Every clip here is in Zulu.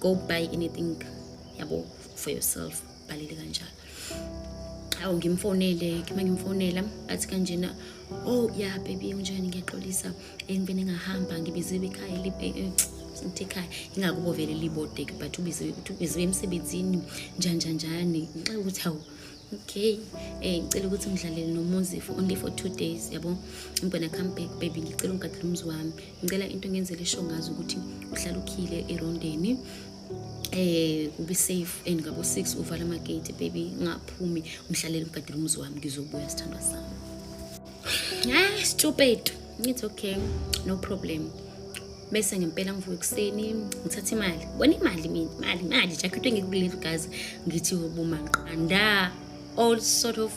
go buy anything yabo for yourself balele kanjalo awu ngimfonele kima ngimfonela athi kanjena oh ya yeah, baby unjani ngiyaxolisa engibene ngahamba ngibiziwe ekhaya libe eh, ngithi ekhaya ingakubovele libodeke but ubiziwe ukuthi ubiziwe emsebenzini njanjanjani ngixa ukuthi awu okay eh ngicela ukuthi ngidlalele nomuzi for only for two days yabo i'm gonna come back baby ngicela ungigadele umuzi wami ngicela into ngenzele show ngazi ukuthi uhlala ukhile erondeni eh ube safe and ngabo 6 uvala ama gate baby ngaphumi ngihlalele ngigadele umuzi wami ngizobuya sithandwa sami ah stupid it's okay no problem bese ngempela ngivuka ekuseni ngithatha imali bona imali mina imali imali jakhethwe ngikuleli gazi ngithi ubumanqanda all sort of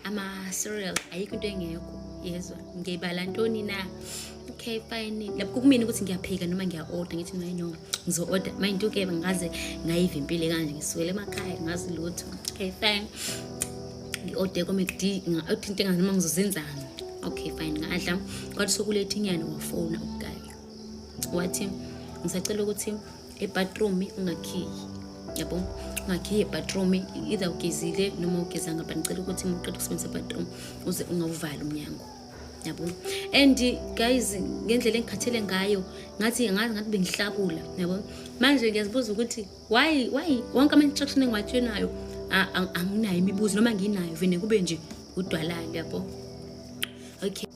ama-cereal ayikho into engekho yezwa ngiyibala ntoni na okay fine lapho kumina ukuthi ngiyaphika noma ngiya-order ngithi maye no ngizo-order mind you-ke ngaze ngayiva impilo kanje ngisuwele emakhaya ngazi lutho okay fine ngi-ode komekd ngathi into engazi noma ngizozenzani okay fine ngadla kwathi sokuletha inyana wafona ukugaya wathi ngisacela ukuthi ebathroom ungakhiyi yabo ungakhiye ebathroom either ugezile noma ugezanga but ngicela ukuthi muqeda ukusebenzisa ebathroom uze ungawuvali umnyango yabo and guys ngendlela engikhathele ngayo ngathi ngazi ngathi bengihlakula yabo manje ngiyazibuza ukuthi why why wonke ama instruction engiwatshenayo anginayo imibuzo noma nginayo vene kube nje udwalala yabo okay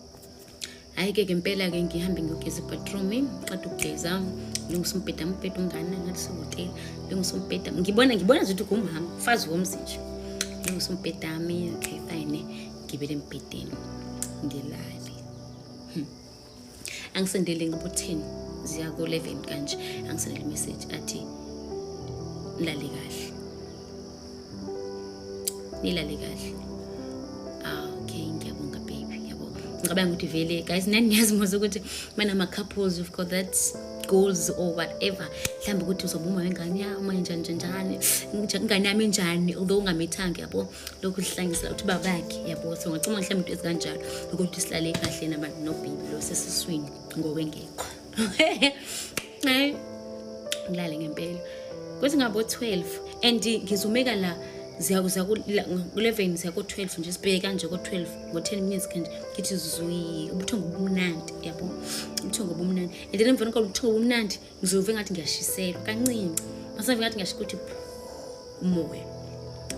hayi ke ngempela ke ngihambe ngiyogeza ibathroom qeda ukugeza lungisa umbheda umbheda ungane ngathi sehotela lungisa umbheda ngibona ngibona nje ukuthi ugumhama ufazi womzi nje lungisa umbhedami okay fine ngibele embhedeni ngilale hmm. angisendele ngibutheni ziya ku-11 kanje angisendele imeseji athi nilale kahle nilale kahle ah, okay ngiyabonga baby ngiyabonga ngicabanga ukuthi vele guys nani niyazimuza ukuthi mana ama-couples you've got that goals or whatever mhlawumbe ukuthi uzoba uma wengane yami njani njani njani ingane yami njani although ungamithanga yabo lokhu sihlangisela ukuthi babakhe yabo so ngacuma mhlawumbe into ezikanjalo ukuthi silale kahle nabantu nobhibi lo sesiswini ngokwengekho eh, ngilale ngempela kuthi ngabo 12 and ngizumeka la ziyakuza ku-11 ziya ko-12 nje sibheke kanje ko-12 ngo-10 minutes kanje ngithi zui ubuthongo obumnandi yabo ubuthongo obumnandi and then emveni kwalo ubuthongo obumnandi ngizove ngathi ngiyashiselwa kancinci masave ngathi ngiyasho ukuthi umoya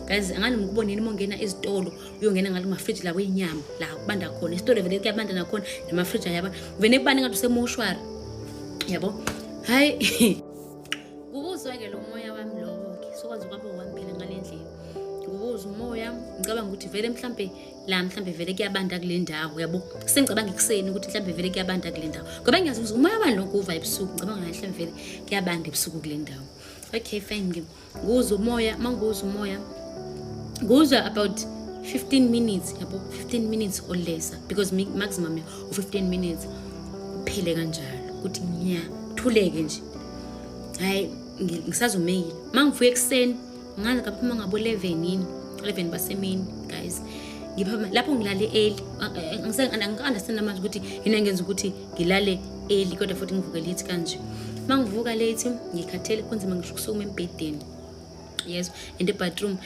guys angani mukuboneni uma ungena ezitolo uyongena ngalo mafriji lawo inyama la kubanda khona isitolo vele kuyabanda nakhona namafriji ayaba vele kubanda ngathi usemoshwari yabo hayi kubuzwa-ke lo moya wami lowo-ke sokwazi ukwabo wami phela ngale ndlela ngokuza umoya ngicabanga ukuthi vele mhlampe la mhlawumbe vele kuyabanda kule ndawo uyabo sengicabanga ekuseni ukuthi mhlawumbe vele kuyabanda kule ndawo ngoba ngiyazi ukuthi umoya wani lokhu uva ebusuku ngicabanga ngathi mhlawumbe vele kuyabanda ebusuku kule ndawo okay fine ngi nguzwa umoya uma nguzwa umoya nguzwa about 15 minutes yabo 15 minutes or lesser because maximum u-15 minutes uphele kanjalo ukuthi ngiyathuleke nje hhayi ngisazumeyile uma ngivuya ekuseni ngaze kaphuma ngabo 11 yini 11 basemini guys ngiphuma lapho ngilale early angisangi-understand manje ukuthi yini engenza ukuthi ngilale early kodwa futhi ngivuke late kanje uma ngivuka late ngikhathele kunzima ngisho ukusukuma embhedeni yes and ebathroom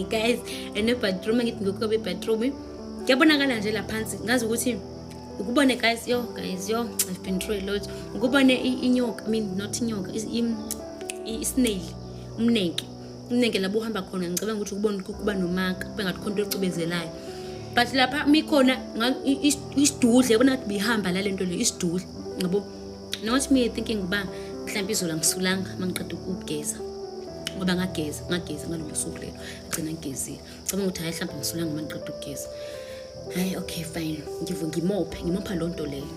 guys and ebathroom angithi ngikuka bebathroom kuyabonakala nje la phansi ngazi ukuthi ukubone guys yo guys yo i've been through a lot ukubone inyoka i mean not inyoka isnail umnenke umnenke labo uhamba khona ngicabanga ukuthi kubona kuba nomaka kube ngathi khona into ecubezelayo but lapha mikhona isidudle yabona ngathi bihamba la lento le isidudle ngabo not me thinking uba mhlawumbe izolo angisulanga uma ngiqeda ukugeza ngoba ngageza ngageza ngalolo suku lelo agcina ngigezile cabanga ukuthi hayi mhlawumbe angisulanga uma ngiqeda ukugeza hayi okay fine ngivu ngimophe ngimopha loo nto leyo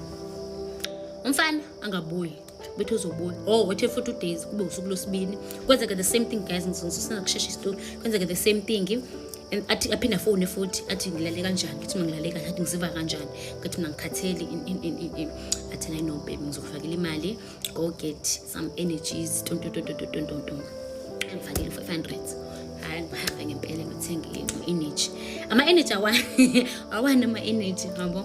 umfana angabuyi bethi uzobona oh wethe futhi udays kube usuku lwesibini kwenzeke the same thing guys ngizosina kushesha isitori kwenzeke the same thing and athi aphinde afone futhi athi ngilale kanjani ngithi mina ngilale kahle athi ngiziva kanjani ngathi mina ngikhathele athi nayi no baby ngizokufakela imali go get some energies tontontontontontonton ngifakele u-five hundred hayi ngihambe ngempela ngithenge i-energy ama-energy awani awani ama-energy ngabo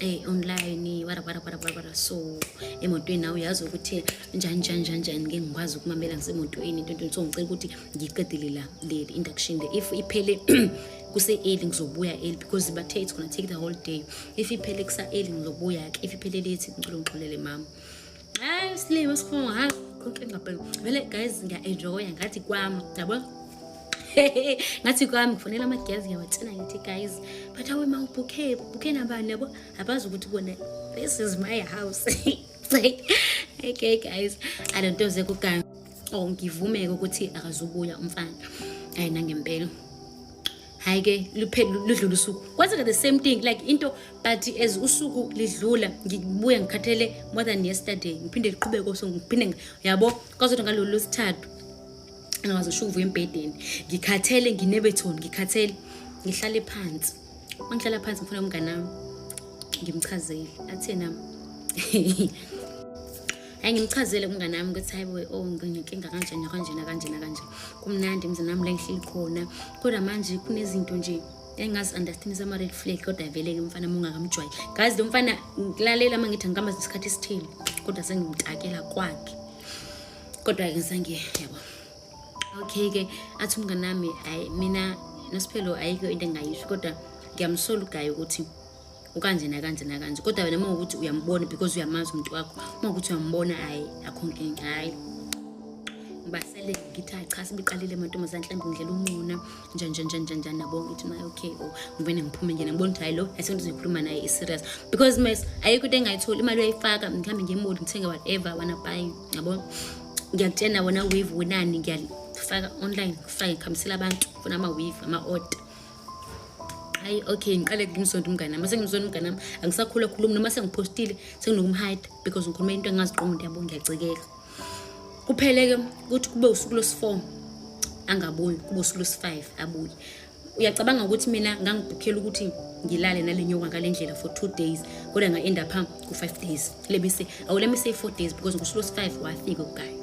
Hey online wara wara wara wara wara so emotweni nawe uyazi ukuthi njani njani njani njani ngeke ngikwazi ukumamela ngisemotweni into into so ngicela ukuthi ngiqedile la le induction le if iphele kuse early ngizobuya early because bathe it's gonna take the whole day if iphele kusa early ngizobuya ke if iphele late ngicela ungixolele mama hayi usilima sifungo hayi konke ngabheka vele guys ngiya-enjoya ngathi kwami yabo ngathi kwami ngifonela amagezi ngiyawathina ngithi guys but awe ma ubhukhe ubhukhe nabani yabo abazi ukuthi kona this is my house okay guys i don't know zekugange or oh, ngivumeke ukuthi akazubuya umfana ayi nangempela hayi ke ludlula usuku kwenzeka the same thing like into but as usuku lidlula ngibuye ngikhathele more than yesterday ngiphinde liqhubeke so ngiphinde yabo kwazothi ngalolu lwesithathu angazi ushuvu embhedeni ngikhathele nginebethoni ngikhathele ngihlale phansi uma ngihlala phansi ngifuna umngane wami ngimchazele athena hayi ngimchazele kumngane wami ukuthi hayi boy oh nginenkinga kanje nakanje nakanje nakanje kumnandi emzini wami la ngihleli khona kodwa manje kunezinto nje engazi understand sama red flag kodwa vele ke mfana mungakamjwayi ngazi lo mfana ngilalela uma ngithi ngikamba isikhathi esithile kodwa sengimtakela kwakhe kodwa ke ngisange yabo okay ke athi umngane wami mina nosiphelo ayikho into engayisho kodwa ngiyamsola ugayi ukuthi ukanje nakanje nakanje kodwa wena uma ukuthi uyambona because uyamazi umuntu wakho uma ukuthi uyambona hhayi akho nkinga hhayi ngibasele ngithi hayi cha sibiqalile amantombazane mhlawumbe ngidlela uncuna njanjanjanjanjan nabo ngithi naye okay o oh, ngivene ngiphume nje ngibona ukuthi hayi lo asengithi uzoyikhuluma naye i-serious because mas ayikho into engayitholi imali uyayifaka ngihambe ngemoli ngithenge whatever wana buy yabo ngiyakutshena wona wave wenani ngiyalifaka online ngifake ngikhambisela abantu funa ama-wave ama-order hayi okay ngiqale ngimsonto umngane nami sengimsonto umngane nami angisakhula khulumi noma sengiphostile senginokumhide because ngikhuluma into engingaziqongi into yabo ngiyacikeka kuphele-ke ukuthi kube usuku lwesi-four angabuyi kube usuku lwesi-five abuye uyacabanga ukuthi mina ngangibhukhela ukuthi ngilale nale nyoka ngale ndlela for two days kodwa nga-enda phambi ku-five days let me say oh let me say four days because ngosuku lwesifive wafika ugayi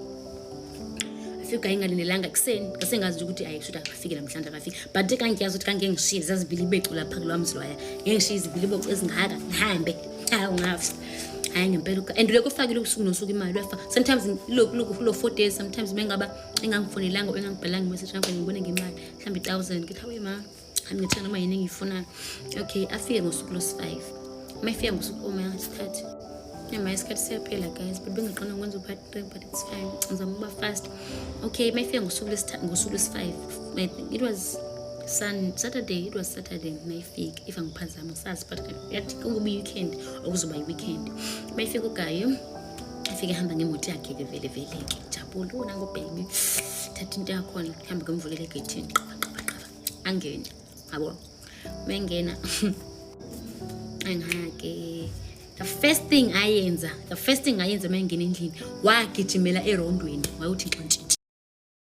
afika ugayi ngalindelanga ekuseni ngasengazi ukuthi ayi shuthi akafike namhlanje akafike but kangiyazi ukuthi kange ngishiye zazibili ibecu lapha kulwa mzilwaya ngengishiye izibili ibocu ezingaka ngihambe hayi ungafa hayi ngempela ugayi and ulokhu ufakile usuku nosuku imali uyafa sometimes lokhu lo four days sometimes bengaba engangifonelanga or engangibhalanga imessage ngangibone ngemali mhlawumbe i-thousand ngithi hawe ma angithina noma yini engiyifunayo okay afike ngosuku lwesi-five uma efika ngosuku uma isikhathi noma isikhathi siyaphela guys but bengaqona ukwenza upart three but it's fine ngizama ukuba fast okay uma efika ngosuku lwesi-five it was sun saturday it was saturday mayifika if angiphazami sazi but yathi kukuba i-weekend okuzoba i-weekend mayifika ugayo afike ehamba ngemoto yakhe-ke vele vele-ke jabule wona ngobheki thatha into yakhona hambe kumvulele egethini angene yabo mengena angake the first thing ayenza the first thing ayenza uma engena endlini wagijimela erondweni wayewuthi nxantshi